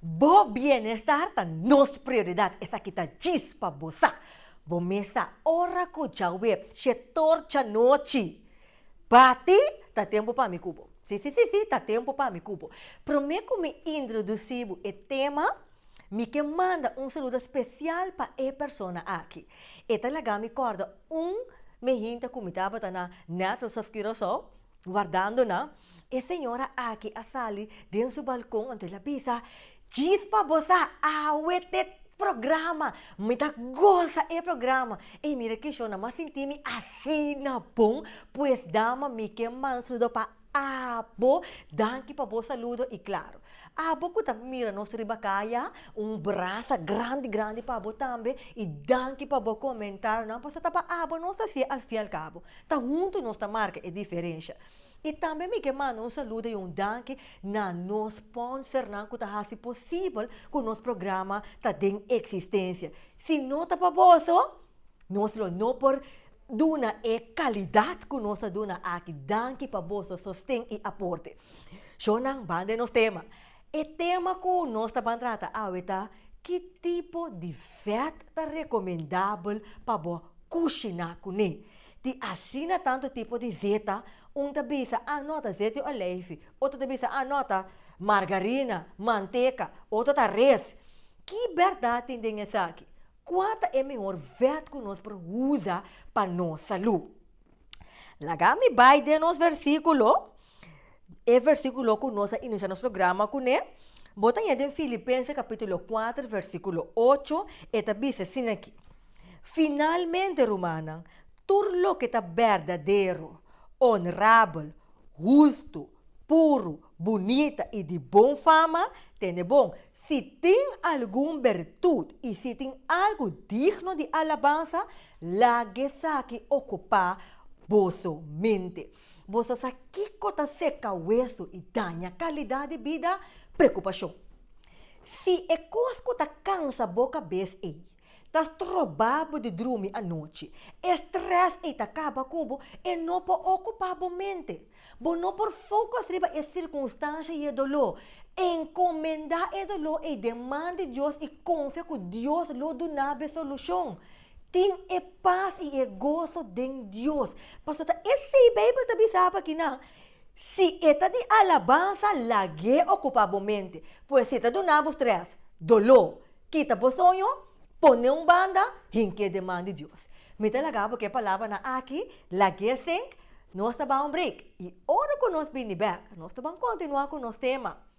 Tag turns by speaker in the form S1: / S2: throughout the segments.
S1: Bo bienestar ta nos prioridad, esaki ta djis pa bo sa. Bo mes sa ora cu djaweps chetor djanochi bati ta tempo pa mi cu bo. Si, si, si, si, ta tempo pa mi cu bo. Prome cu mi introduci bo e tema, mi ke manda un saludo special pa e persona aki. E ta laga mi corda un me hinta cu mi tabata na Naturals of Curacao, wardando nan. E señora aki a sali den su balkon anto el a bisa, Chispa bo sa awe t'e programa! Mi ta gosa e programa! Ey mira kishon, na mi a sinti mi asina bon, pues dama mi ke mansudo pa abo, danki pa bo saludo y claro abo ku ta mira nos riba kaya, un brasa grandi grandi pa bo tambe y danki pa bo comentarionan, pasobra ta pa abo nos ta si al fin al cabo, ta huntu nos ta marca e diferencia. I tambe mi ke manda un saludo i un danki na nos sponsernan ku ta hasi posibel ku nos programa ta den eksistensia. Si no ta pa boso, nos lo no por duna e kalidat ku nos ta duna aki. Danki pa boso sosten i aporte. Shon nan, banda e nos tema. E tema ku nos ta ban trata awe ta, Ki tipo di vèt ta rekomendabel pa bo kushiná kuné? Tin asina tantu tipo di zeta, un ta bisa ah no ta zet di olijfi, otro ta bisa ah no ta margarina, manteka, otro ta res. Ki bèrdat tin den esaki? Kua ta e mihor vèt ku nos por usa pa nos salú? Laga mi bai den nos versíkulo. E versíkulo ku nos a inisiá nos programa kuné, bo ta yega den Filipense kapítulo kuater versíkulo ocho, e ta bisa asin akí, Finalmente, rumannan, tur loke ta berdadero, onrabel, hustu, puru, bunita i di bon fama, tene bon. Si tin algun bertut i si tin algu digno di alabansa, laga esaki okupá boso mente. Boso sa kiko ta seka wesu i daña kalidat di bida? Preokupashon. Si e kos ku ta kansa bo kabes ei ta stroba bo di drumi anochi, e strès ei ta kaba ku bo, e no por okupá bo mente. Bo no por fokus riba e sirkunstansha i e doló. Enkomendá e doló ei den man di Dios i konfia ku Dios lo duna bo e solushon. Tin e pas i e goso den Dios. Pasobra esei Beibel ta bisa pa kinan, Si e ta di alabansa, lag'é okupá bo mente. Pues si ta duna bo strès, doló, kita bo soño, pon'é un banda, hink'é den man di Dios. Mi ta laga bo ku e palabranan aki, lag'é sink, nos ta ban un break i ora ku nos bini bèk, nos lo ban kontinuá ku nos tema.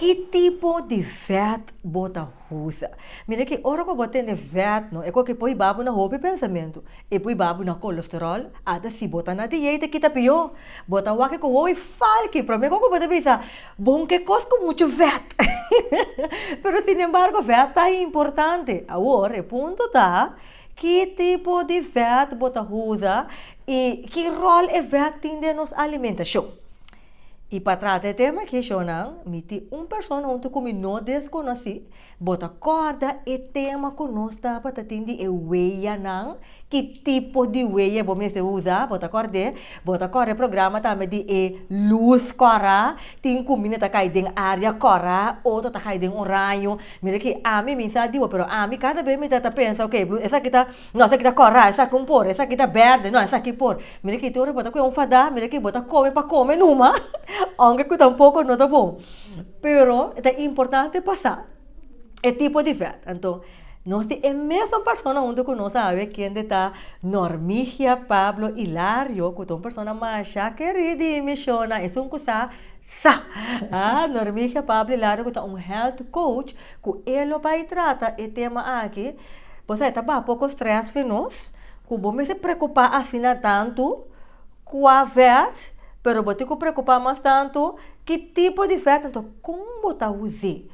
S1: Ki tipo di vèt bo ta usa? Mira ke ora ku bo tende vèt no e ko ke poi babu na hopi pensamentu. E poi babu na kolesteròl, ata si bo ta na dieta e kita pió. Bo ta wak ku hopi falki. Promé ku bo ta bisa, Bon ke kos ku muchu vèt? Pero sinembargo vèt ta importante. Awor e punto ta, Ki tipo di vèt bo ta usa i ki ròl e vèt tin den nos alimentashon? I pa trata e tema aki shornan, mi tin un persona huntu ku mi no deskonosí. Bo ta kòrda e tema ku nos tabata tin di e weyanan? Ki tipo di weya bo mester usa? Bo ta kòrd'é? Bo ta kòrda e programa tambe di e lus kòrá? Tin kuminda ta kai den área kòrá o ta kai den un raño? Mira aki, ami mi sa dibo, pero ami kada bes mi ta ta pensa, ok, blu, esaki ta, no, esaki ta kòrà, esaki un por, esaki ta bèrdè, no, esaki por. Mira aki, tin un repòt ta kue un fadá, mira aki, bo ta kome pa kome numa, ounke ku ta un poko no ta bon. Pero e ta importante pa sa e tipo di vèt. Anto, nos tin e mesun persona huntu ku nos awe kende ta Normigia Pablo Hilario, ku ta un persona masha kerí di Mishona, esun ku sa. Sa! A Normigia Pabli Lara ku ta un health coach ku e lo bai trata e tema aki, bo sa e ta baha poko stress for nos ku bo mester preocupa asina tantu kua vet pero bo tin ku preocupa mas tantu ki tipo di vet enton kon bo ta us'é.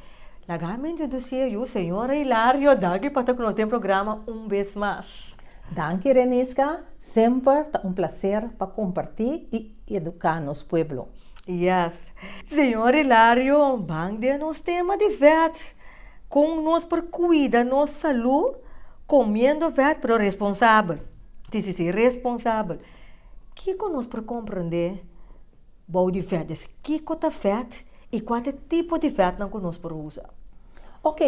S1: Laga mi introduci'é yu señor Hilario Dagi pa ta ku nos den programa un bes mas. Danki
S2: Renisca, semper ta un placer pa comparti i. y educa nos pueblo. Yes.
S1: Señor Hilario ban den nos tema di vet con nos por cuida nos salud comiendo vet pero responsabel. Si si si responsabel. Kico nos por comprende bou di vet des? Kico ta vet y cua ta e tipo di vetnan cu nos por usa? Ok,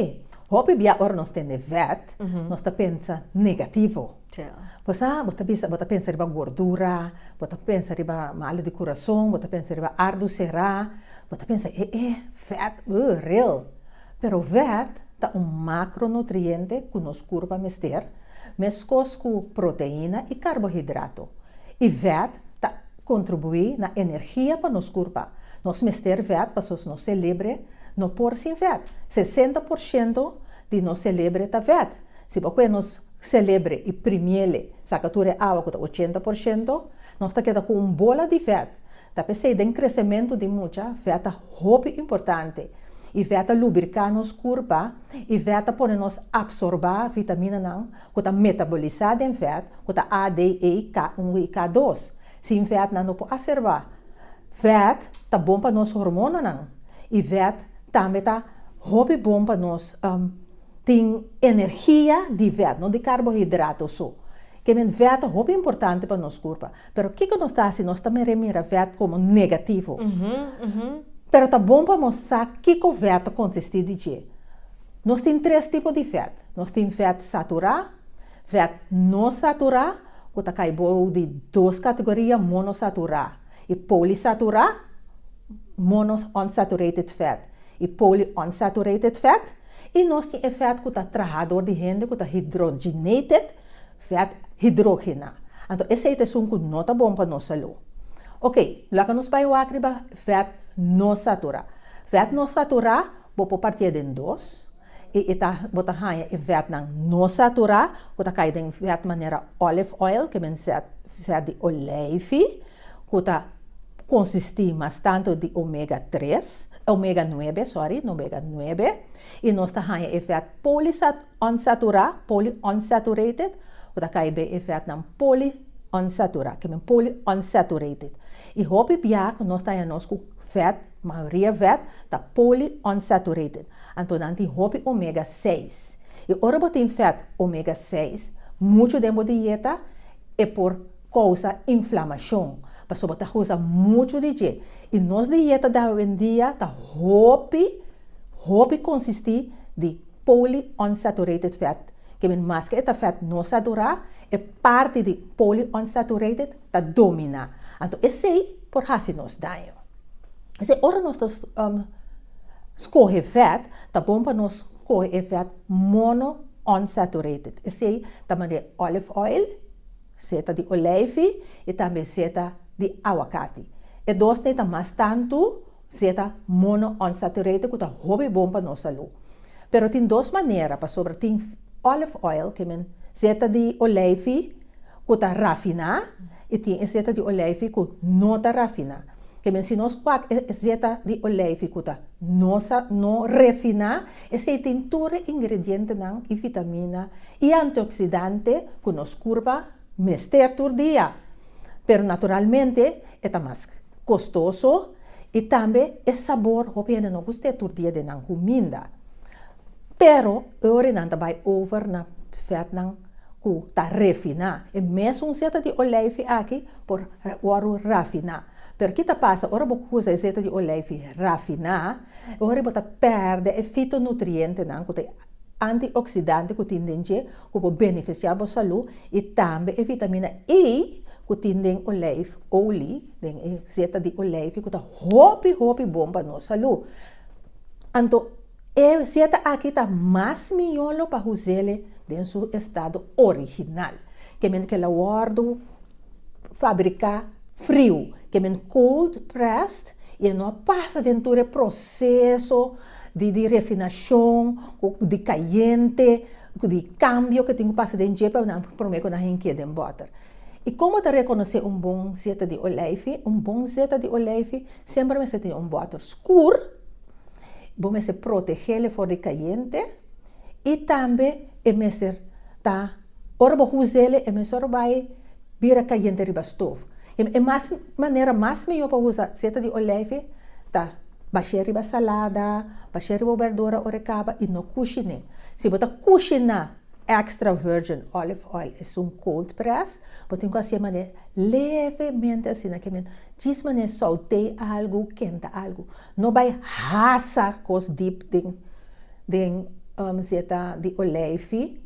S2: hopi bia ora nos tende vet nos ta pensa negativo. Pasá bo ta bisa, bo ta pensa riba gordura, bo ta pensa riba malu di kurason, bo ta pensa riba ardu será, bo ta pensa e e fèt, ugh, ril. Pero fèt ta un makronutriente ku nos kurpa mester, meskos ku proteína i karbohidrato. I fèt ta kontribuí na energia pa nos kurpa. Nos mester fèt pasobra nos selebre no por sin fèt. Sesenta por shento di nos selebre ta fèt. Si pa kue nos selebre e primiele saka tur e awa ku ta ochenta por shento, nos ta keda ku un bola di vèt, ta p'esei den kresementu di mucha, vèt ta hopi importante. E vèt ta lubriká nos kurpa, e vèt ta pone nos apsorbá vitaminanan ku ta metabolisá den vèt, ku ta A, D, E, K unu i K dos. Sin vèt nan no por a serbá. Vèt ta bon pa nos hormonanan. E vèt tambe ta hopi bon pa nos. Tin energia di vèt, no di karbohidrato su. Kende vèt ta hopi importante pa nos kurpa. Pero kiko nos ta hasi? Nos ta meré mira vèt komo negativo. Pero ta bon pa nos sa kiko vèt ta konsistí di dje. Nos tin tres tipo di vèt. Nos tin vèt saturá, vèt no saturá, ku ta kai bou di dos kategoria, monosaturá i polisaturá, mono unsaturated fat i polyunsaturated fat. I nos tin e fèt ku ta traha dor di hende ku ta hidroginated, fèt hidrogená. Anto esei ta esun ku no ta bon pa nos salú. Ok, laga nos bai wak riba fèt nosaturá. Fèt nosaturá bo por partié den dos i e ta bo ta haña e fètnan nosaturá ku ta kai den fèt manera olive oil, ke mensèt fèt di oleifi. ku ta konsistí mas tantu di omega tres, omega nuebe, sorry, omega nuebe, i nos ta haña e fèt poliunsaturá, polyunsaturated, ku ta kai ben e fètnan poliunsaturá, ke men polyunsaturated. I hopi bia ku nos ta haña nos ku fèt, mayoria fèt, ta poliunsaturated. Anto nan tin hopi omega seis. I ora bo tin fèt omega seis, muchu den bo dieta e por. kousa inflamashon, pasobra ta usa muchu di dje, i nos dieta di awendia ta hopi, hopi konsistí di polyunsaturated fat, ke men maske e ta fat no saturá, e parti di polyunsaturated ta dominá, anto esei por hasi nos daño. P'esei ora nos ta skohe fat, ta bon pa nos skohe e fat monounsaturated, esei ta manera olive oil, Seta di olijfi y tambe seta di aguacati. E dos n'e ta mas tantu seta monounsaturated cu ta hopi bon pa nos salú. Pero tin dos manera pasobra tin olive oil ke men seta di olijfi cu ta rafiná y tin e seta di olijfi cu no ta rafiná. Ke men si nos wak e seta di olijfi cu ta no refiná. Esei tin tur e ingredientenan i vitamina i antioksidante ku nos kurpa mester tur dia. Pero naturalmente e ta mas kostoso i tambe e sabor hopi hende no gust'é tur dia den nan kuminda. Pero e ora nan ta bai over na vètnan ku ta refiná, e mes un seta di olijfi aki por wòru rafiná. Pero ki ta pasa ora bo kusa e zeta di olijfi rafiná? E ora ei bo ta pèrdè e fitonutrientenan ku ta e antioksidanti ku tin den dje ku por benefisiá bo salú i tambe e vitamina E ku tin den olijf oli, den e zeta di olijfi ku ta hopi hopi bon pa nos salú. Anto e zeta aki ta mas mihó lo pa hus'é den su estado original. Ke men ke la wòrdu fabriká friu, ke men cold pressed, i e no a pasa den tur e proseso di refinashon, ku di kayente, ku di kambio ke tin ku pasa den dje pa nan promé ku nan hink'é den bòter. I komo ta rekonosé un bon zeta di oleifi? Un bon zeta di oleifi semper mester tin un bòter skur, bo mester protegel e for di kayente, I tambe e mester ta ora bo us'el e mester bai bira kayente riba stof. E mas manera mas mihó pa usa seta di olèfi ta bash'é riba salada, bash'é riba bo berdura ora e kaba i no kushiné. Si bo ta kushiná extra virgin olive oil esun cold press bo tin ku hasié manera levemente asina kimin djis manera sauté algu, kenta algu. No bai hasa kos dip den den um zeta di olijfi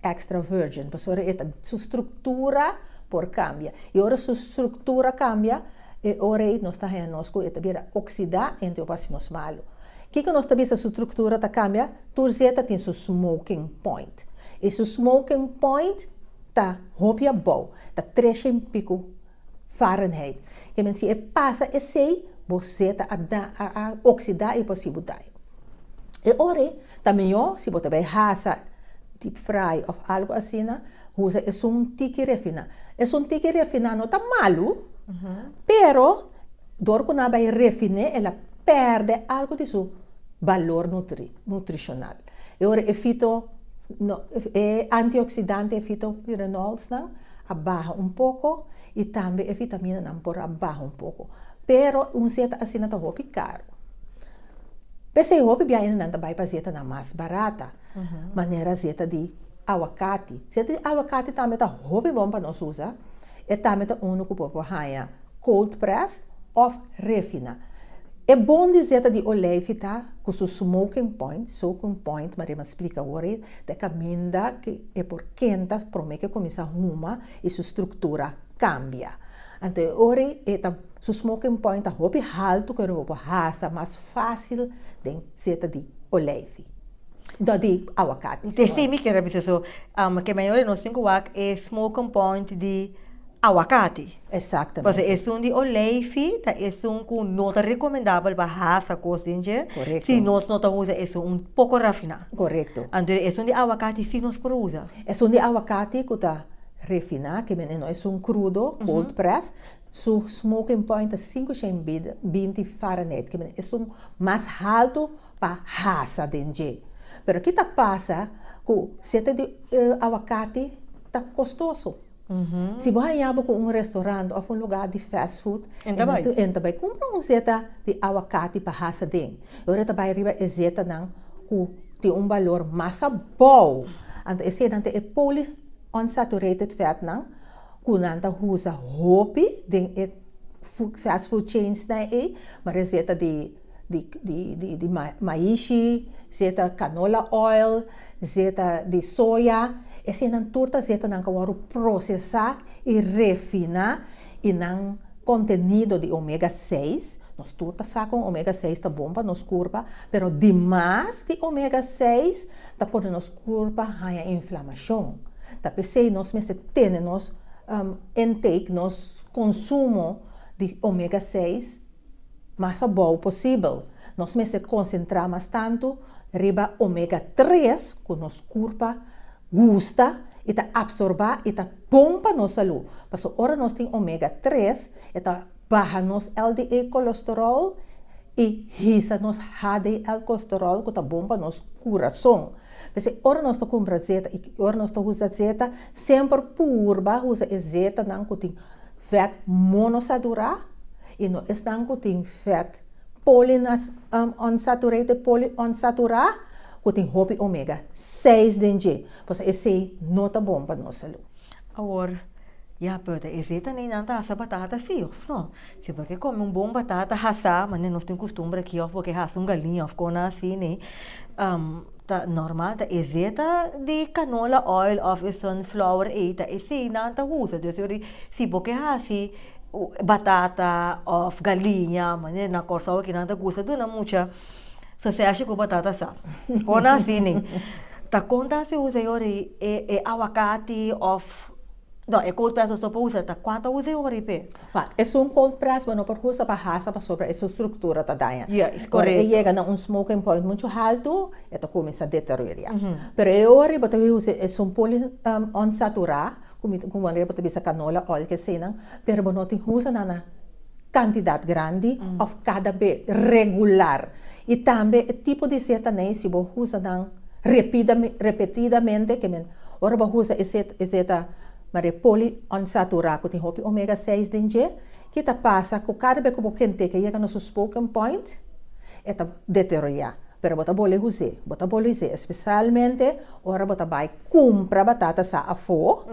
S2: extra virgin pasobra e ta su struktura por kambia i ora su struktura kambia e ora ei nos ta haña nos ku e ta bira oksida enta e wòchi nos malu kiko nos ta bisa su struktura ta kambia tur zeta tin su smoking point i su smoking point ta hopi abou ta tresha en piku Fahrenheit. E men si e pasa esei, bo zeta a da, a, a oksida i por si bu daño. E ore ta mihó si bo ta bai hasa deep fry òf algu asina, usa esun un tiki refiná. Esun tiki refiná no ta malu, pero dor ku nan a bai refin'é el a pèrdè algu di su balor nutri, nutrishonal. E ora e fito e antioksidante e fitoquinoolsnan a baha un poko i tambe e vitaminanan por a baha un poko pero un zeta asina ta hopi karu p'esei hopi biahanan nan ta bai pa zetanan mas barata manera zeta di awakati zeta di awakati tambe ta hopi bon pa nos usa E tambe ta unu ku por por haña cold pressed of refina. E bon di zeta di olijfi ta ku su smoking point, soaking point, Maria m'a splika awor ei, ta e kaminda ku e por kenta promé ku e kuminsá huma i su struktura kambia. Anto e ora ei e ta su smoking point ta hopi haltu ku e no bo por hasa mas fásil den zeta di olijfi. do di awakat. Te si mi kier a bisa so,
S1: ke mayor di nos tin ku wak e smoking point di awakati. Exactamente. Pasobra
S2: esun di olijfi
S1: ta esun ku no ta recomendabel pa hasa kos den dje. Correcto. Si nos no ta
S2: usa
S1: esun un poco rafina. Correcto. Anto
S2: esun di awakati
S1: si nos por usa. Esun di awakati
S2: ku ta refina ke men e no esun krudo, cold press, su smoking point ta sinku shen binti Fahrenheit ke men esun mas haltu. pa hasa den dje. Pero ki ta pasa ku sete di awakati ta kostoso. Si bo haña bo ku un restorant òf un lugá di fast food, e ta bai kumpra un seta di awakati pa hasa den. E ora e ta bai riba e setanan ku tin un balor mas abou. Anto esenan ta e poli unsaturated fatnan ku nan ta usa hopi den e fast food chainsnan ei, mara e seta di. di maishi, zeta canola oil, zeta di soya, eseinan tur ta zetanan cu a wòrdu procesá i refiná i nan contenido di omega seis, nos tur ta sa con omega seis ta bon pa nos curpa, pero di mas di omega seis ta pone nos curpa haña inflamacion, ta p'esei nos mester tene nos intake, nos consumo di omega seis. Mas abou posibel, nos mester konsentrá mas tantu riba omega tres ku nos kurpa gusta i ta apsorbá i ta bon pa nos salú. Paso ora nos tin omega tres, e ta baha nos LDL kolesterol i hisa nos HDL kolesterol ku ta bon pa nos kurason. P'esei ora nos ta kumpra zeta i ora nos ta usa zeta, semper purba usa e zetanan ku tin. Vet mono saturá i no esnan ku tin vet poliunsaturated, poliunsaturá, ku tin hopi omega seis den dje, pasobra esei no ta bon pa nos salú. Awor,
S1: ya pero ta esei tambe nan ta hasa batata sí òf no? Si bo ke kome un bon batata hasá, manera nos tin kustumber aki, òf bo ke hasa un galiña òf kona así nei, Ta normal ta esey ta di canola oil of e sunflower ey ta esey nan ta usa dus ori si bo ke hasi batata of galiña manera na Corsou aki nan ta gusta duna mucha soseshi cu batata sa con asini ta con ta hasi usa e ori e aguacati of No, e cold press nos no por usa, ta cuata usa e ora y pe. Fa, esun cold
S2: press bo no por usa pa hasa pasobra e su structura ta daña. Ya, es Ora e correcto. yega
S1: na un
S2: smoking
S1: point
S2: mucho halto, e ta cuminsa deterioria. Pero e ora bo ta bin usa esun poly unsatura, cu mi, cu manera bo ta bisa canola oil cu eseinan, pero bo no tin usa nan na. kantidat grandi òf kada be regular. I tambe e tipo di seta nei si bo usa nan repetidamente, ke men ora bo usa e seta e seta mare poliunsaturaku ku tin hopi omega seis den dje, ki ta pasa ku kada be ku bo kente ke yega na su spoken point e ta deteroyá, pero bo ta bole us'é, bo ta bole us'é, espesalmente ora bo ta bai Cumpra batata sa afo,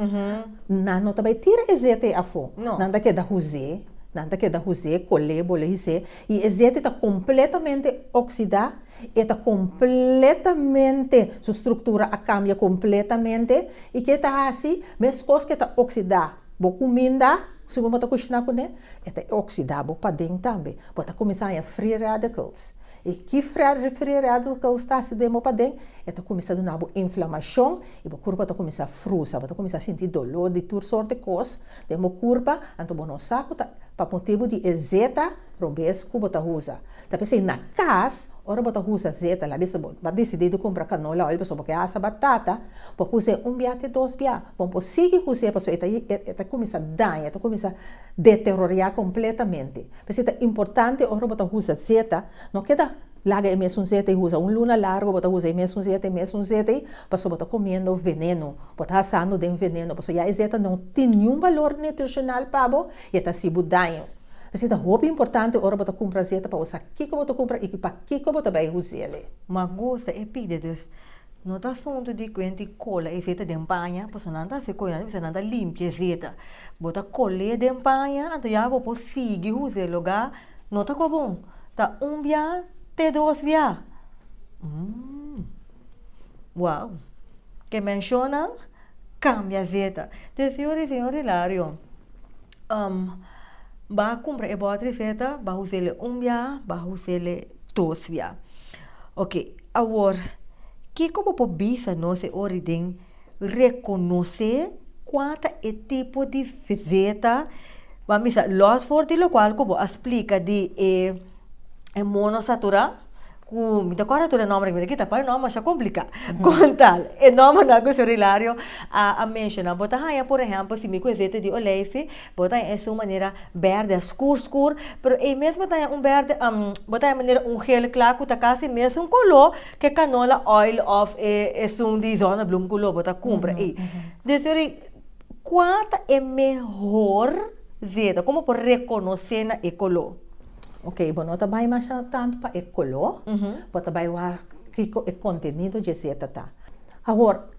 S2: nan no ta bay tira e zete afo, nan ta keda huze, nan ta keda huze, cole, bole hise, y e zete ta completamente oxida, e ta completamente, su structura a cambia completamente, y ke ta haci? Mescos ke ta oxida bo cuminda, segun bo ta cushina cune, e ta oxida bo paden tambe, bo ta cuminsa haña free radicals. E kifra referí riba di loke bo sta hasi demo paden, e ta kuminsá duna bo inflamashon i bo kurpa ta kuminsá frusa. Bo ta kuminsá sinti doló di tur sort di kos den bo kurpa, anto bo no sa ku ta pa motibu di e zeta robes ku bo ta usa. Ta p'esei na kas, ora bo ta usa zeta, labi si bo a disidí di kumpra kanola oil pasobra bo ke asa batata, bo por us'é un bia te dos bia. Bo no por sigui us'é pasobra e ta kuminsá daña, e ta kuminsá deteroriá kompletamente. P'esei ta importante ora bo ta usa zeta, no keda laga e mesun zeta i usa. Un luna largu bo ta usa e mesun zeta, e mesun zeta ei, pasobra bo ta kumiendo veneno, bo ta hasando den veneno, pasobra ya e zeta no tin niun balor nutrishonal pa bo i e ta hasi bo daño. P'esei ta hopi importante ora bo ta kumpra zeta pa bo sa kiko bo ta kumpra i pakiko bo ta bai us'el. Magusta
S1: e pide, dus No ta asuntu di kuen tin kola e zeta den baña, pasobra nan ta hasi koinantu bisa nan ta limpia e zeta. Bo ta kol'é den baña, anto ya bo por sigui usa e lugá. No ta kobon ta un biá te dos biá. Mmmm. Wou! Ke menshonan kambia zeta. Entonces, si yo di, Señor Hilario, bá kumpra e bòter di zeta, bá us'é un biá, bá us'é dos biá. Oke. Awor, kiko bo por bisa nos e ora di den rekonosé kua ta e tipo di visita, bo a misa, lòs for di lokual ku bo a splika di e e mono saturá, ku mi ta kòrda anto e nòmbernan, pero aki ta pare nòmber masha kompliká, kon tal e nòmbernan ku Sur Hilario a a menshoná. Bo ta haña, por ehèmpel, si mi ku e zeta di oleifi, Bo ta es un manera berde askur skur, pero ei mesmo ta un berde am bo ta e manera un geel kla ku ta kasi mesun koló ke kanola oil òf e esun di zonneblum ku lo bo ta kumpra ei. Des yori kua ta e mehor zeta ku bo por rekonosé na e koló? Ok, bo no
S2: ta bai masha tantu pa e koló, bo ta bai wak kiko e kontenido dje zeta ta. Awor,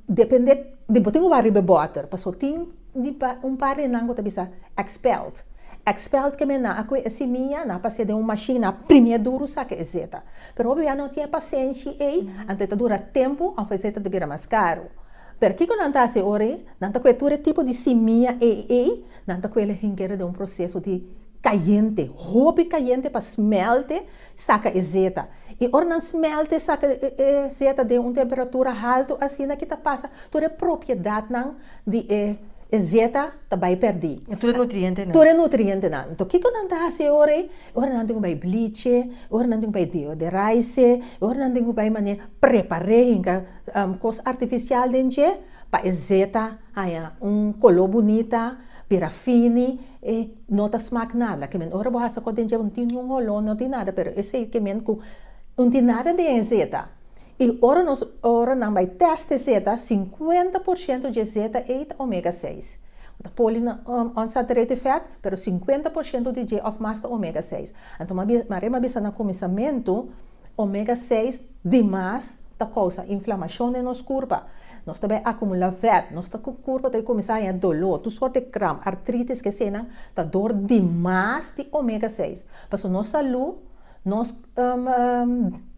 S2: depende di bo tin ku wak riba e bòter, paso tin di un par di nan ku ta bisa expelled. Expelled ke men nan a kohe e simia, nan a pas'é den un mashin, nan a primi e duru saka e zeta. Pero hopi bia no tin e pasenshi ei, anto e ta dura tempu òf e zeta ta bira mas karu. Pero kiko nan ta hasi ora ei? Nan ta kohe tur e tipo di simia ei, nan ta kohe el a hinkera den un proseso di kayente, hopi kayente pa smèlte, Saka e zeta. I ora nan smèlt e saka e zeta den un temperatura haltu asina ki ta pasa tur e propiedatnan di e e zeta ta bai pèrdí. Tur e nutrientenan. Tur
S1: e nutrientenan. Anto
S2: kiko nan ta hasi e ora ei? E ora nan tin ku bai bliche, e ora nan tin ku bai deoderaise, e ora nan tin ku bai manera prepar'é hinka kos artifisial den dje pa e zeta haña un koló bunita, bira fini. E no ta smak nada. Ke men ora bo hasa ko den dje bo tin un holo no tin nada pero esei ke men ku no tin nada den e zeta i ora nos ora nan bai test e zeta sinkuenta por shento dje zeta ei ta omega seis no ta poli unsaturated fat pero sinkuenta por shento di dje of mas ta omega seis anto mari a bisa na kuminsamentu Omega seis di mas ta kousa inflamashon den nos kurpa. Nos ta bai akumulá vèt, nos ta kurpa ta kuminsá haña doló, tur sòrt di kramp, artritis, ke eseinan ta dor di mas di omega seis. Pasobra nos salú, nos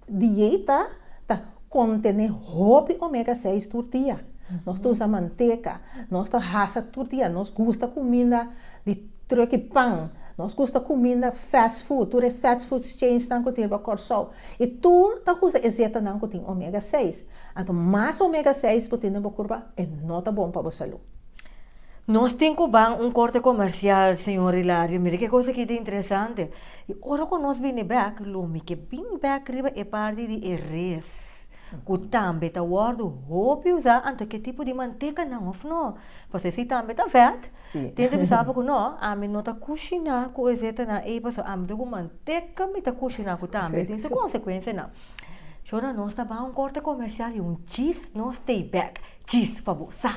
S2: dieta ta kontené hopi omega seis tur dia. Nos ta usa manteka, nos ta hasa tur dia, nos gusta kuminda di. Truki pan, nos gusta cuminda fast food, tur e fast food chains nan cu tin riba Corsou, y tur ta usa e zeta nan cu tin omega seis, anto mas omega seis bo tin den bo curpa e no ta bon pa bo salud. Nos
S1: tin cu ban un corte comercial señor Hilario, mira que cosa aki ta interesante, y ora cu nos bini bek lo mi ke bini bek riba e parti di e res, cu tambe ta wordo hopi usa, anto ke tipo di manteca nan of no, pasobra si tambe ta vet. Sí. Tende bisa apo ku
S2: no,
S1: ami no ta kushiná ku e zetenan ei pasobra ami ta ku manteka mi ta kushiná ku tambe tin su konsekuensianan. Shona nos ta bai un korte komersial i un chis no stay back chis pa bo sa.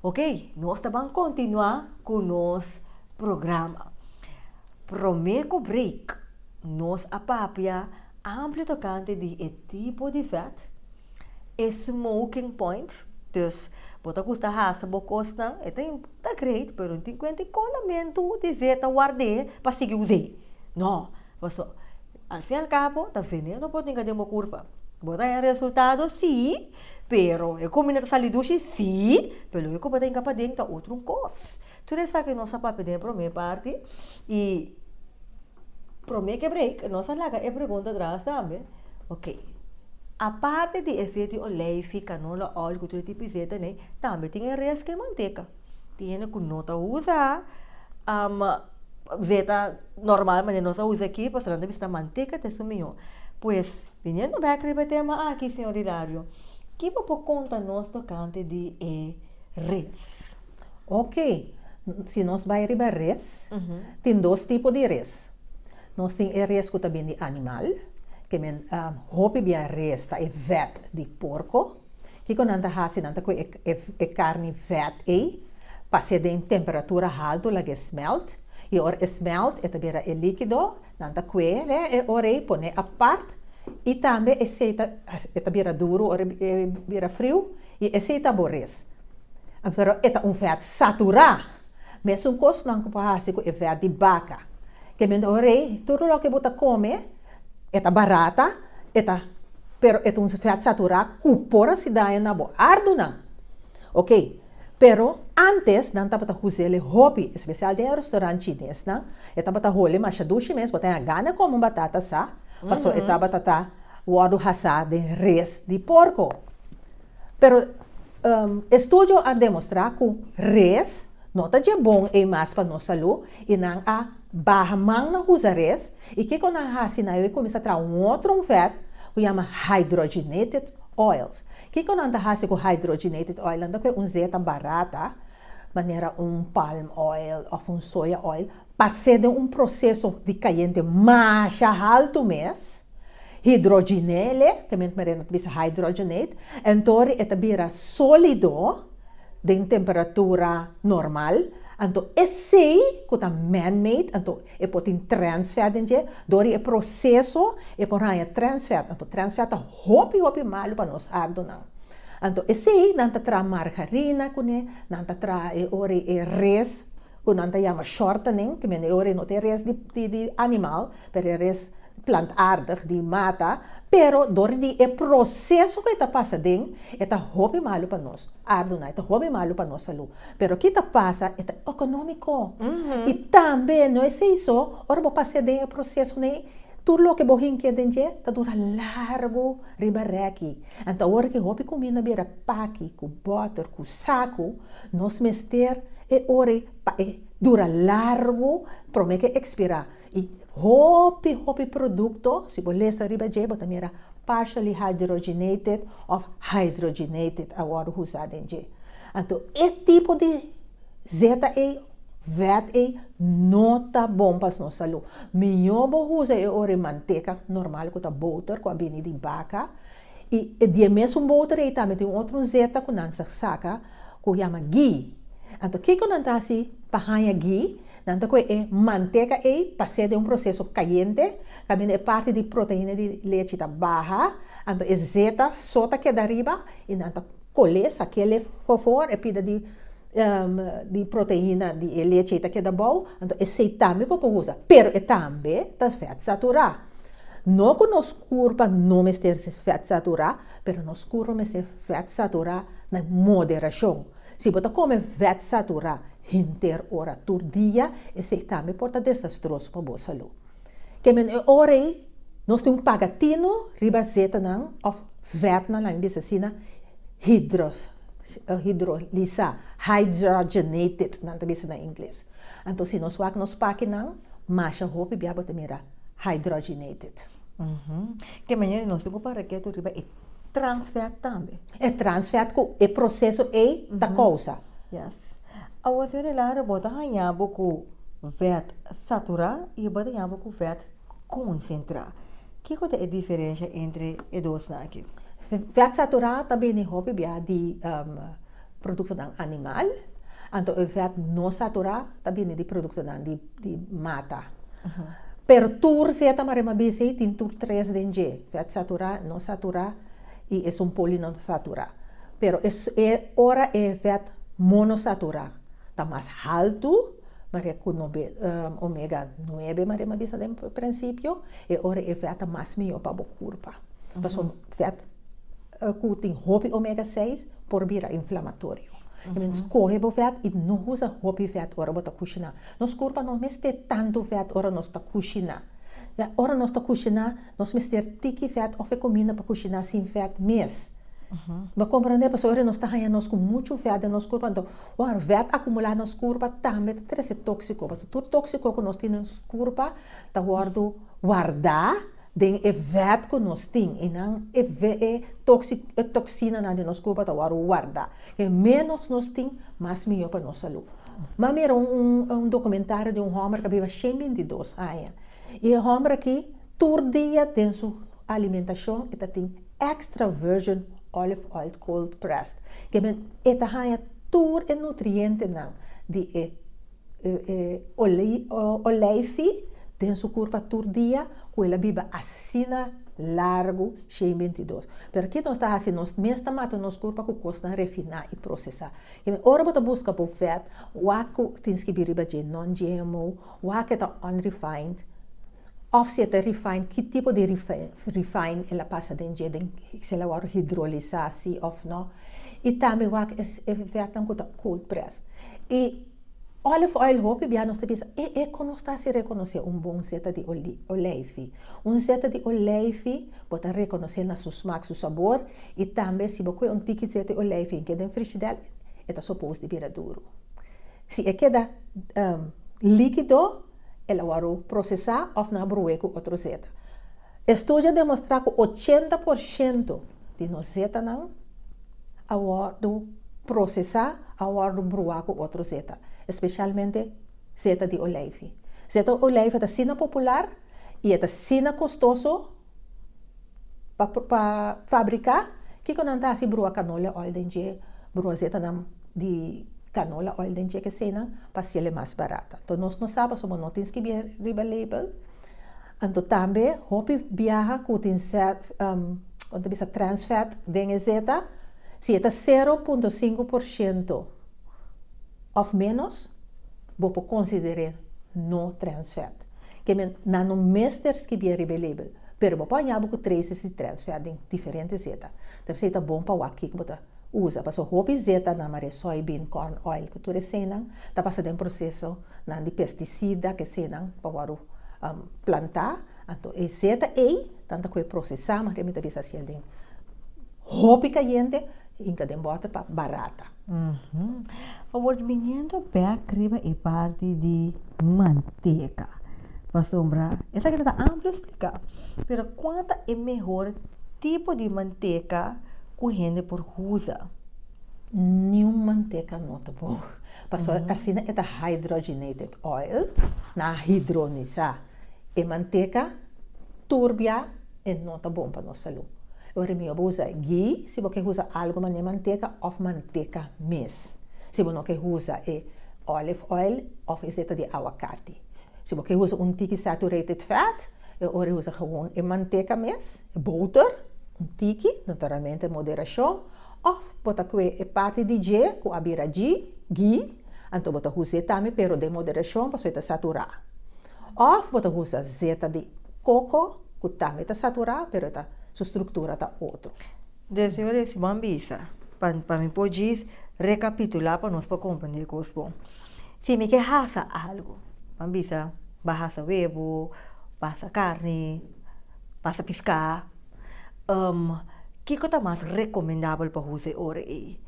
S1: Ok, nos ta ban continua cu nos programa. Prome cu break, nos a papia amplio tocante di e tipo di vet, E smoking points, dus bo ta gusta hasa bo kosnan, e ta ta great, pero no tin kuenta e kolamentu di ze ta ward'é pa sigui us'é. No, paso al fin al cabo ta veneno bo tin ka den bo kurpa. Bo ta haña resultado sí, pero e komina ta sali dushi sí, pero loke ku bo ta yega paden ta otro un kos. Tur esaki nos a papia den e promé parti i promé ke break nos a laga e pregunta atras tambe, ok, aparte di e seti oleifi, kanola oil ku tur e tipi seta nei tambe tin e rest ke manteka. Tin hende ku no ta usa seta normal manera nos a usa aki pasobra nan ta bisa manteka ta su mihó. Pues biniendo bèk riba e tema aki señor Hilario, ke bo por konta nos tokante di e rest? Oke
S2: si nos bai riba res, tin dos tipo di res. Nos tin e res ku ta bin di animal, ke men hopi bia res ta e vèt di porko. Kiko nan ta hasi? Nan ta kohe e karni vèt ei, pase den temperatura haltu laga e smèlt, i ora e smèlt e ta bira e líkido. Nan ta kue re e ora ei pone apart i tambe esei ta e ta bira duru ora e bira friu i esei ta aboris. Pero e ta un vèt saturá. Mesun kos nan ku por hasi ku e vèt di baka. Kende ora ei tur loke bo ta kome e ta barata, e ta pero e ta un vèt saturá ku por hasi daño na bo ardunan. Oke. Pero, antes nan tabata huzele hopi, especial den e restaurant chines nan, e tabata hole masha dushi mes, bo ta haya gana come un batata sa, paso e tabata ta wordo hasa den res di porco. Pero, e studio a demostra cu res no ta dje bon ey mas pa nos salu y nan a Baha man na huzares y kico nan a haci na ello y cuminsa traha un otro un vet cu yama hydrogenated oils. Kico nan ta haci cu hydrogenated oil? Nan ta coge un zeta barata manera un palm oil of un soya oil, pase den un proceso di cayente masha halto mes, hidroginele, ke men ta bisa hydrogenate, entori e ta bira solido den temperatura normal, anto esei ku ta man-made, anto e por tin trans fat den dje, dor di e proseso e por haña trans fat, anto trans fat ta hopi hopi malu pa nos ardunan. Anto esei nan ta traha margarina kuné, nan ta traha e ora e res ku nan ta yama shortening, ke men e ora no ta e res di animal, pero e res plantaardig di mata, pero dor di e proseso ku e ta pasa den, e ta hopi malu pa nos ardunan, e ta hopi malu pa nos salú. Pero ki ta pasa, e ta ekonómiko. I tambe no esei so, ora bo pas'é den e prosesonan ei, tur loke bo hink'é den dje ta dura largu riba rèki. Anto awor ki hopi kuminda bira paki ku bòter ku saku, nos mester e ora ei pa e dura largu promé ku e ekspirá. I hopi hopi produkto, si bo lesa riba dje bo ta mira partially hydrogenated of hydrogenated a wòrdu usá den dje. Anto e tipo di zeta ei, vet ei, no ta bon pa nos salú. Mihó bo usa e ora e manteka normal ku ta boter ku a bini di baka. I e di e mesun boter ei tambe tin un otro zeta ku nan sa saka ku yama ghi. Anto kiko nan ta hasi pa haña ghi? Nan ta kue e manteka ei, pas'e den un proseso kayente, kaminda e parti di proteina di lechi ta baha, anto e zeta so ta keda riba i nan ta kole, sakele, for for, e pida di proteina di e lechi ei ta keda bou, anto esei tambe bo por usa, pero e tambe ta vet saturá. No cu nos curpa no mester ser fat satura, pero nos curpa mester fat satura na moderacion. Si bo ta come fat satura henter ora tur dia, esey tambe por ta desastroso pa bo salu. Kemey e ora ey nos tin un pagatino riba zetanan of fatnan, laga mi bisa asina, hidrolisa, hydrogenated nan ta bisa na Ingles. Anto si nos wak nos pakinan, masha hopi bia bo ta mira hydrogenated.
S1: Ke manera nos ta ocupa reketo riba e trans fat tambe? E trans fat cu
S2: e proceso ey ta causa. Yes.
S1: Awo señor Hilario bo ta haña bo cu vet satura y bo ta haña bo cu vet concentra. Kico ta e diferencia entre e dosnan aki? Vet satura
S2: ta bini hopi bia di Produktonan animal, anto e vèt no saturá ta bini di produktonan di di mata. Pero tur zeta marema bisi tin tur tres den dje, vèt saturá, no saturá i esun poli no ta saturá. Pero e e ora e vèt monosaturá ta mas haltu maria ku no be omega nuebe marema bisa den prinsipio, e ora e vèt ta mas mihó pa bo kurpa. Pasobra vèt. cu tin hopi omega seis por bira inflamatorio. I men scoge bo vet i no usa hopi vet ora bo ta cushina. Nos curpa no mester tantu vet ora nos ta cushina. Ya ora nos ta cushina nos mester tiki vet of e cominda pa cushina sin vet mes. Bo comprende? Pasobra nos ta haya nos cu muchu vet den nos curpa anto wor vet acumula nos curpa tambe ta trece toxico pasobra tur toxico cu nos tin den nos curpa ta wordo warda. Den e vèt ku nos tin i nan e e toksinanan den nos kurpa ta wòrdu warda. Ke ménos nos tin, mas mihó pa nos salú. M'a mira un un dokumentario di un hòmber ku a biba shen binti i dos aña. I e hòmber aki tur dia den su alimentashon e ta tin extra virgin olive oil cold pressed. Ke men e ta haña tur e nutrientenan di e. Oleifi den su kurpa tur dia ku el a biba asina largu shei i binti dos. Pero ki nos ta hasi? Nos mes ta mata nos kurpa ku kosnan refiná i prosesá. Ora bo ta buska bo vèt, wak ku tin skibí riba dje non-GMO, wak e ta unrefined, òf si e ta refine, ki tipo di refine el a pasa den dje, den si el a wòrdu hidrolisá sí òf nò, i tambe wak e efèknan ku ta cold press. I òlif oil hopi bia nos ta bisa e e kon nos ta hasi rekonosé un bon seta di oleifi. Un seta di oleifi bo ta rekonosel na su smak, su sabor, i tambe si bo kue un tiki seta di oleifi i ke den frishidèr e ta sopos di bira duru. Si e keda líkido. el a wòrdu prosesá òf nan a brué ku otro zeta. Estudio a demostrá ku ochenta por shento di nos zetanan a wòrdu prosesá, a wòrdu bruá ku otro zeta, espeshalmente zeta di oleifi. Zeta di oleifi ta asina popular i e ta asina kostoso. Pa fabriká, kiko nan ta hasi brua kanola oil den dje brua zetanan di kanola oil den dje kesenan pa sele mas barat. Anto nos no sa pasobra no tin skibí riba label. Anto tambe hopi biaha ku tin kon ta bisa trans fat den e zeta si e ta sero punto sinku por shento òf ménos bo por konsider'é no trans fat. Ke men nan no mester skibié riba e label, pero bo por hañá bo ku Tracy si trènsfèr den diferente zeta. Ta p'esei ta bon pa wak kiko bo ta usa, pasobra hopi zetanan, mareé soybean, corn oil ku tur eseinan, ta pasa den prosesonan di pestisida, ke eseinan pa wòrdu plantá. Anto e zeta ei nan ta koe prosesá, mareé mi ta bisa hasiel den hopi kayente, hinka den bòter pa barata.
S1: Fabor di biniendo bek riba e parti di manteka pasobra esaki ta amplu splika. Pero kua ta e mehor tipo di manteka ku hende por usa?
S2: Niun manteka no ta bon pasobra asina e ta hydrogenated oil, nan a hidronisa e manteka, turbia. E no ta bon pa nos salú. E ora mió bo usa ghee si bo ke usa algu mané manteka òf manteka mes. Si bo no ke usa e olive oil òf e seta di awakati. Si bo ke usa un tiki saturated fat, e ora usa gewoon e manteka mes, e bouter, un tiki, naturalmente moderashon, òf bo ta kue e parti di dje ku a bira ghee, anto bo ta us'é tambe pero den moderashon pasobra e ta saturá. Òf bo ta usa zeta di koko ku tambe ta saturá pero e ta su struktura ta otro. Dje señor e
S1: si bo a bisa pa pa mi por djis rekapitulá pa nos por komprendé kos bon. Si mi ke hasa algu bo a bisa ba hasa webo ba hasa karni ba hasa piská kiko ta mas rekomendabel pa usa e ora ei?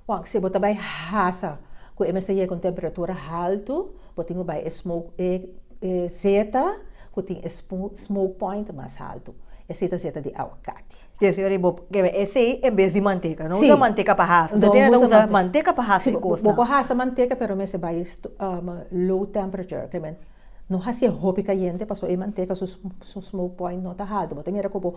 S1: Bon si bo
S2: ta bai hasa ku e mester yega un temperatura haltu. Bo tin cu bay e smoke e zeta cu tin e smoke point mas alto. Esey ta zeta di aguacate. Djesse Marie bo
S1: kebe esey en bes di manteca. No usa manteca pa hasa. No
S2: usa
S1: manteca. Usa manteca pa hasa e cosnan. Bo por hasa manteca
S2: pero mester bay low temperature kebe no hasiye hopi cayente pasobra e manteca su smoke point no ta alto. Bo ta mira cu bo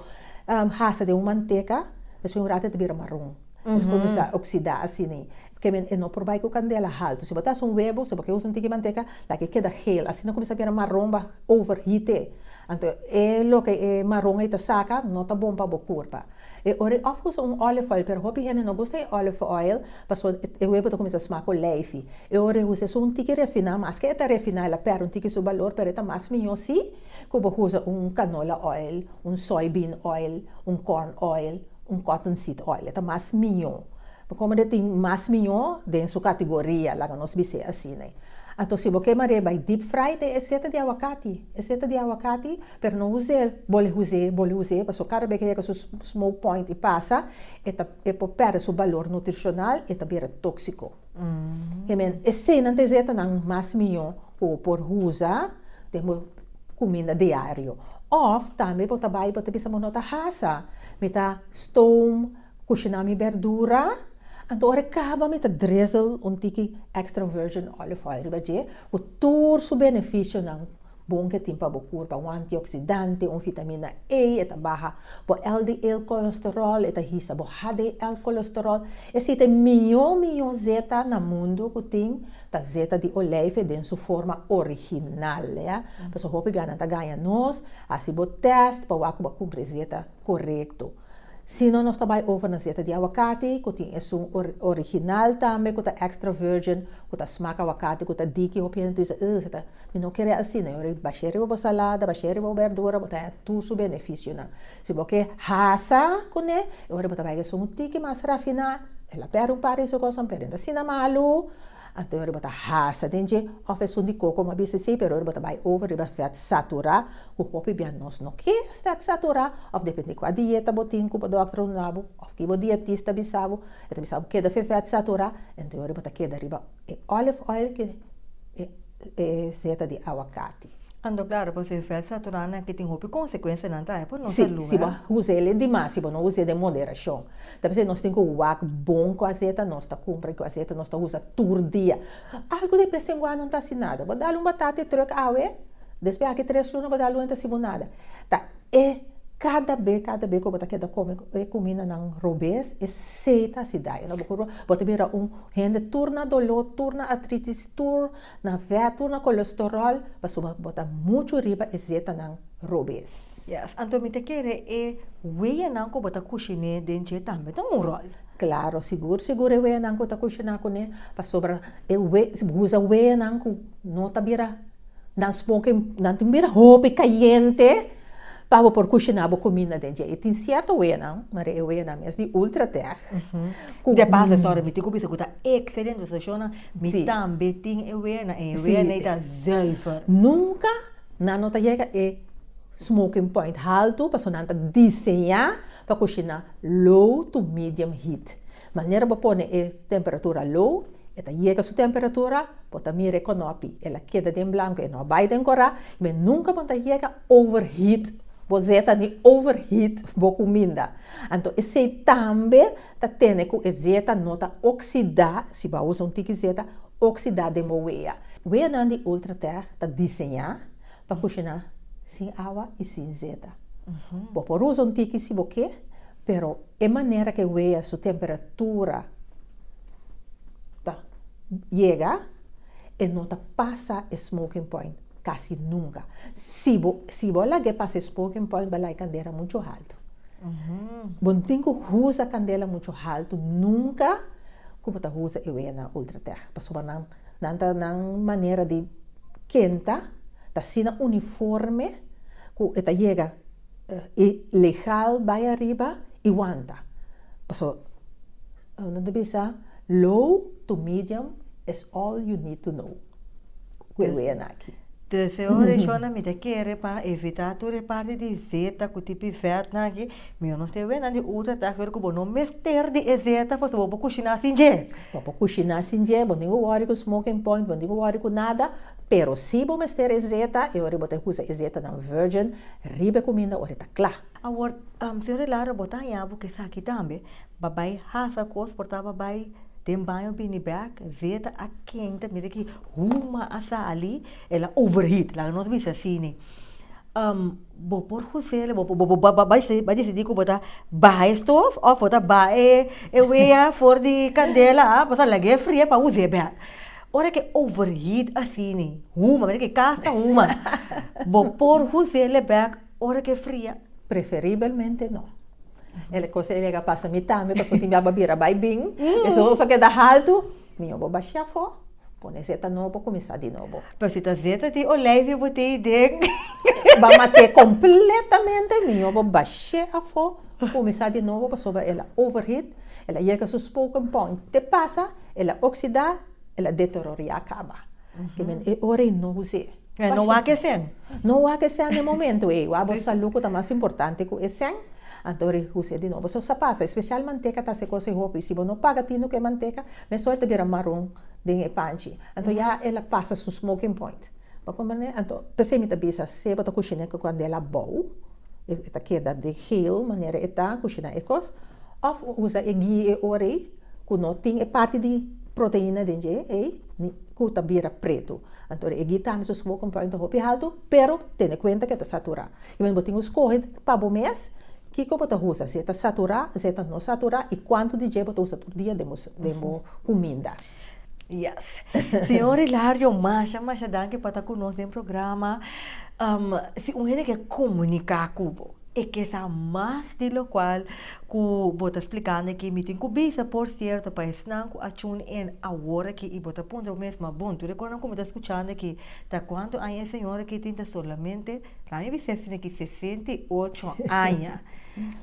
S2: hasa den un manteca despues un rato e ta bira maron. E kuminsá oksidá asina. Kèmen e no por bai ku kandela haltu. Si bo ta hasi un webo, si bo ker usa un tiki manteka, laga e keda hel. Asina kuminsá bira maron ba overheat e. Anto e loke e maron ei ta saka no ta bon pa bo kurpa. E ora e òf usa un olive oil, pero hopi hende no gusta e olive oil pasobra e webo ta kuminsá sma ku leifi. E ora e usa esun un tiki refiná, maske e ta refiná el a pèrdè un tiki su balor pero e ta mas mihó si. Cu bo usa un canola oil, un soybean oil, un corn oil, un cottonseed oil, e ta mas mijo. Pa como e tin mas mijo den su categoria, laga nos bis'e asina. Anto si bo ke mare bay deep fry te e seta di aguacati, e seta di aguacati, pero no uze bole uze, bole uze, pasobra cada bey ke yega su smoke point y pasa, e ta, e por perde su balor nutricional y e ta bira toxico. Hemen, esenan ta esey ta nan mas mihó ku bo por usa den bo kuminda diario. Òf tambe bo ta bai i bo ta bisa, Bo no ta hasa, mi ta stoom kushiná mi bèrdura, anto ora e kaba mi ta drizzle un tiki extra virgin olive oil riba dje ku tur su benefisionan. Bon ke tin pa bo kurpa, un antioksidante, un vitamina A, e ta baha bo LDL kolesterol, e ta hisa bo HDL kolesterol. E sita e mion mion zeta na mundu ku tin ta zeta di olijf den su forma original. Pasobra hopi biaha nan ta gaña nos, hasi bo tèst pa wak ku bo a kumpli e zeta korekto. Si no nos ta bai over na zeta di awakati ku tin esun original tambe ku ta extra virgin ku ta smak awakati ku ta diki, hopi hende ta bisa, ugh, e ta. Mi no kere asina, yo rei, bash'é riba bo salada, bash'é riba bo berdura, bo ta haña tur su benefisionan. Si bo ke hasa kuné, e ora bo ta bai ku esun un tiki mas rafiná, el a pèrdè un par di su kosnan, pero e no ta asina malu, anto e ora bo ta hasa den dje, òf esun di koko bo a bisa esei, pero e ora bo ta bai over riba vèt saturá, ku hopi bia nos no ke vèt saturá, òf dependé kua dieta bo tin ku bo dòkter a runda bo, òf ki bo dietista a bisa bo, e ta bisa bo keda fe vèt saturá, anto e ora bo ta keda riba. E olive oil cu e seta di aguacati. Ando claro pa hacer
S1: vet saturana que tin hopi consecuencia nan trae pa nos salud. Si bo usa el
S2: dimas, si bo no usa el den moderacion. Ta pasa nos tin cu wak bon cu aseta, nos ta cumpra cu aseta, nos ta usa tur dia. Algo de bes en guano no ta haci nada. Bo dal un batata e truck awe, despues aki tres luna bo dal un e no ta haci bo nada. Ta. E kada be kada be ku bo ta keda kome e kumindanan robes e sei ta hasi daño na bo kurpa bo ta bira un hende tur na doló tur na atritis tur na vèt tur na kolestoròl pasobra ku bo ta muchu riba e zetanan robes. Yes anto mi ta
S1: kere e weanan ku bo ta kushiné den dje tambe ta un ròl. Klaro sigur
S2: sigur e weanan ku ta kushiná kuné pasobra e we usa weanan ku no ta bira Nan smoke, nan tin bira hopi cayente pa bo por cushina bo cuminda den dje. Y tin cierto weanan, Maria, e weanan mes di Ultratec, cu. Dje
S1: pas esor e mi tin cu bisa cu ta excelente e stacionnan, mi tambe tin e weanan, y e weanan ei ta zuiver. Nunca
S2: nan no ta yega e smoking point haltu, pasobra nan ta diseña pa cushina low to medium heat. Manera bo pone e temperatura low, e ta yega su temperatura, bo ta mira e konopi, el a keda den blanko, e no a bai den kora, men nunka bo ta yega overheat bo zeta ni overheat bo kuminda. Anto esei tambe ta tene ku e zeta no ta oksida, si bo a usa un tiki zeta, oksida den bo wea. Weanan di Ultratec ta diseñá Pa kushiná sin awa i sin zeta. Bo por usa un tiki si bo ke, pero e manera ke wea su temperatura ta yega e no ta pasa e smoking point kasi nunka. Si bo si bo a lag'é pasa e smoking point bo lay kandera muchu haltu. Bo no tin ku usa kandela muchu haltu nunka ku bo ta usa e weanan Ultratech pasobra nan Nan ta nan manera di kenta, ta asina uniforme ku e ta yega i legal bai ariba i wanta. Paso nan ta bisa low to medium is all you need to know ku e wea naki. Tus e ora e
S1: shownan mi ta kere pa evitá tur e parti di zeta ku tipi vèt nan aki. Mi honos tin e wenan di utra tak ku bo no mester di e zeta paso bo por kushiná sin dje. Bo por kushiná
S2: sin dje, bo no tin ku wòri ku smoking point, bo no tin ku wòri ku nada, pero si bo mester e zeta, e ora bo ta usa e zetanan virgin riba e kuminda ora e ta kla. Awor,
S1: señor de Lara, bo ta hañá bo ku esaki tambe, bo a bai hasa kos, por ta bo a bai den baño bini bèk, zeta a kenta, mira ki huma a sali, el a overheat, laga nos bisa asini. Bo por husela bo bo bo bo bai bai desidí ku bo ta baha e stof òf bo ta baha e e wea for di kandela a bo ta lag'é fri'é pa usa e bèk. Ora ke overheat asina huma manera ke kas ta huma bo por husel e bèk ora ke fria? Preferibelmente
S2: no. E kos ei a yega pasa mi tambe pasobra tin mihagba a bira bai bin, esun a keda haltu Mi yo bo bashia afó, pone zeta nobo, kuminsá di nobo. Pero si ta zeta di
S1: olijf yo bo tei den. Ba mat'é
S2: kompletamente, mi yo bo bash'é afó, kuminsá di nobo pasobra el a overheat, el a yega su spoken point te pasa, el a oksidá, el a deteroriá kaba. Kimin e ora i no hus'é. E no wak e sèn.
S1: No wak e sèn
S2: den momentu ei. Wak bo salú ku ta mas importante ku e sèn. Anto ri hus'é di nobo. So sa pasa, espesial manteka ta se kos e hopi. Si bo no paga tinu ku e manteka, mester ta bira maron den e panchi. Anto ya el a pasa su smoking point. Bo komprendé? Anto p'esei mi ta bisa, se bo ta kushiné ku kandela abou. e ta keda di heel manera e ta ku shinan e kos òf usa e ghee e ora ei ku no tin e parti di proteina den dje ei ku ta bira pretu anto e ghee tambe su smoke point ta hopi haltu pero tene kuenta ke ta saturá i men bo tin ku skohe pa bo mes kiko bo ta usa si e ta saturá si e ta no saturá i kuantu di dje bo ta usa tur dia den bo kuminda. Yes.
S1: Señor Hilario, masha, masha danki pa ta ku nos den programa. Um, si un hende ke komuniká ku bo, e ke sa mas di lokual ku bo ta splikando aki. Mi tin ku bisa, por sierto, pa esnan ku a tune in awor aki i bo ta puntra bo mes, ma bon, tur e kosnan ku mi ta skuchando aki ta kuantu aña e señor aki tin ta solamente Para mi Vicente tiene ki sesenta i ocho aña.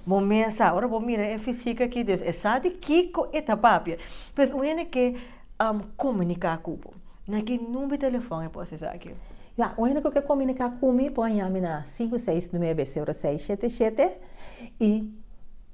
S1: Bo mensa, ora bo mira e fisik aki, Dios, e sa di kiko e ta papia. Pues un hende ke komuniká ku bo, na ki number di telefòn e por hasi esaki? Ya, un hende ku ke
S2: komuniká ku mi por a yaha mi na sinku seis nuebe seru seis shete shete i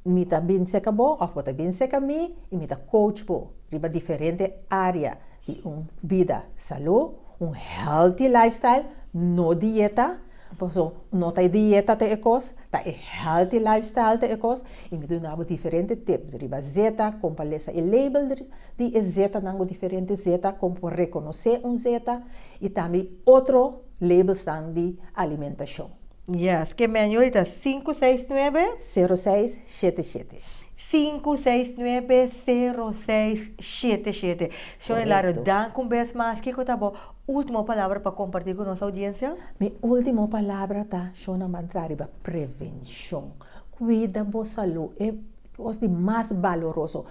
S2: mi ta bin seka bo òf bo ta bin seka mi i mi ta coach bo riba diferente área. di un bida salú, un healthy lifestyle, no dieta, pasobra no ta e dieta ta e kos, ta e healthy lifestyle ta e kos, i mi duna bo diferente tip riba zeta, kon pa lesa e label di e zetanan, bo diferente zeta, kon por rekonosé un zeta, i tambe otro labelsnan di alimentashon. Yes, ke
S1: menu ei ta sinku seis nuebe. Sero seis shete
S2: shete. Sinku seis nuebe sero
S1: seis shete shete. Shon Hilario, Korekto. dank un bes mas. Kiko ta bo ultimo palabra pa komparti ku nos oudiensia? Mi ultimo
S2: palabra ta, shonnan ban traha riba prevenshon. Kuida bo salu, e kos di mas baloroso.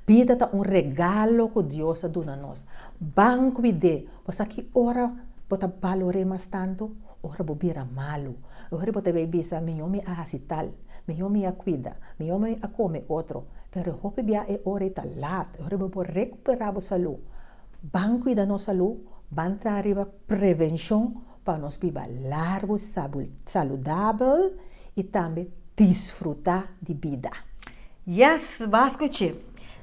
S2: Bida ta un regalo ku Dios a duna nos. Ban kuid'é. Esaki ora bo ta balor'é mas tantu, ora bo bira malu, e ora bo ta bai bisa, Mihó mi a hasi tal, mihó mi a kuida, mihó mi a kome otro. Pero e hopi bia e ora ei ta lat, e ora bo por rekuperá bo salú. Ban kuida nos salú, ban traha riba prevenshon pa nos biba largu, saludabel i tambe disfrutá di bida. Yes,
S1: b'e skuch'é!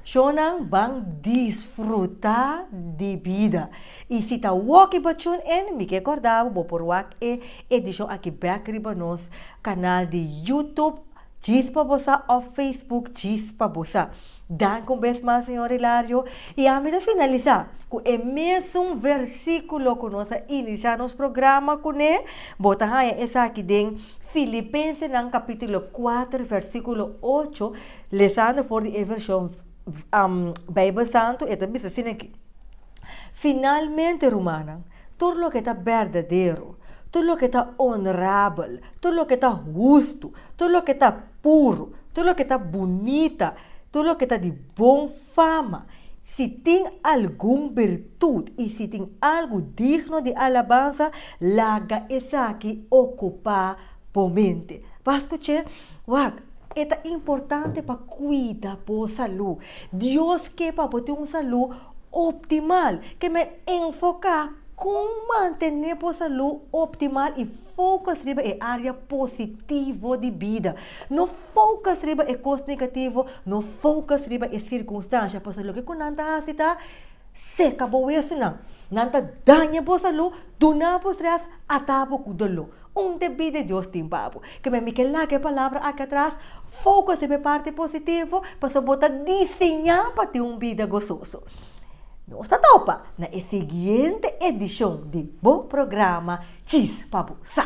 S1: Shonnan ban disfrutá di bida. I si ta wòk i bo tune in, mi ke kòrda bo, bo por wak e edishon akí bèk riba nos kanal di YouTube. Chispa bosa of Facebook chispa bosa. Danki un bes mas señor Hilario y ami ta finalisa cu e mesun versiculo cu nos a inicia nos programa cu ne, bo ta haya esaki den Filipensenan capitulo kuater versiculo ocho, lesando for di e version Bijbel Santo e ta bisa asina, Finalmente rumannan. Tur loke ta berdadero, tur loke ta onorabel, tur loke ta hustu, tur loke ta puru, tur loke ta bunita, tur loke ta di bon fama, si tin algun birtut i si tin algu digno di alabansa, laga esaki okupá. Bo mente. Bo a skuch'é? Wak, e ta importante pa kuida bo salú. Dios ke pa bo tin un salú optimal. Kem'é enfoká kon mantené bo salú optimal i fokus riba e área positivo di bida. No fokus riba e kos negativo, no fokus riba e sirkunstansha, pasobra loke ku nan ta hasi ta. Seka bo wesunan. Nan ta daña bo salú, duna bo stres, ata bo ku doló. Un debí di Dios tin pa bo. Kibé mi ke laga e palabra aki atras, fokus riba e parti positivo, pasobra bo ta diseñá pa tin un bida gososo. Nos ta topa na e siguiente edishon di bo programa Djis pa bo sa.